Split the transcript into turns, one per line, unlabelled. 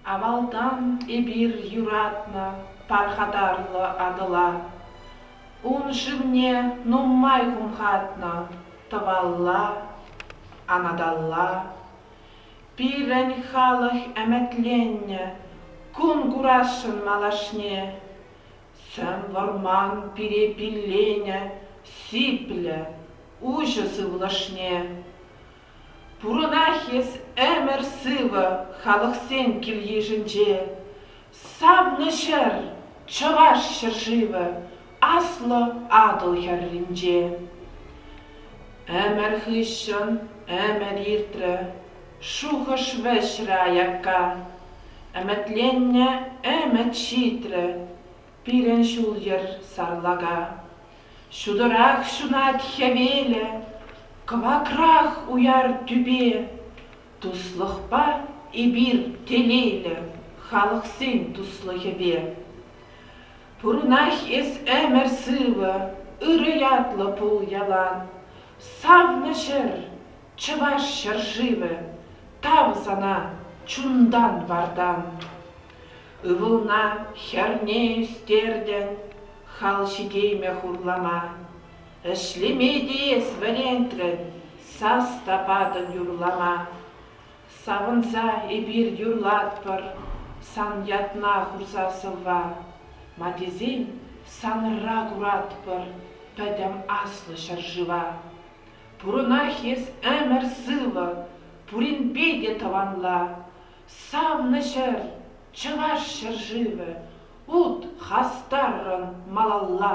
Авалтан эпир юратнӑ пархатарлӑ Атӑла. Ун шывне нумай хумхатнӑ тӑвалла, анаталла. Пирӗн халӑх ӗмӗтленнӗ кун курасшӑн малашне. Ҫӗр вӑрман пире пилленӗ сиплӗ, уҫӑ сывлӑшне. Пурӑнах эс ӗмӗр-сывӑ халӑхсен кил-йышӗнче. Савнӑ ҫӗр, Чӑваш ҫӗршывӗ, Аслӑ Атӑл хӗрринче. Ӗмӗр хыҫҫӑн ӗмӗр иртрӗ, Шухӑш вӗҫрӗ аякка. Ӗмӗтленнӗ ӗмӗт ҫитрӗ пирӗн ҫул-йӗр сарлака. Ҫутӑрах ҫунать хӗвелӗ, кӑвакрах уяр тӳпе. Туслӑхпа эпир телейлӗ халӑхсен туслӑхӗпе. Пурӑнах эс ӗмӗр сывӑ, ырӑ ятлӑ пул ялан. Савнӑ ҫӗр, Чӑваш ҫӗршывӗ, тав сана чунтан-вартан. Ывӑлна хӗрне ӳстертӗн хал ҫитеймӗ хурлама. Ӗҫлеме те эс вӗрентрӗн сас та патӑн юрлама. Савӑнса эпир юрлатпӑр сан ятна хурса сӑвва. Ма тесен санра куратпӑр пӗтӗм аслӑ ҫӗршыва. Пурӑнах эс ӗмӗр сывӑ, пуринпе те тӑванла. Савнӑ ҫӗр, чӑваш ҫӗршывӗ, ут хастаррӑн малалла.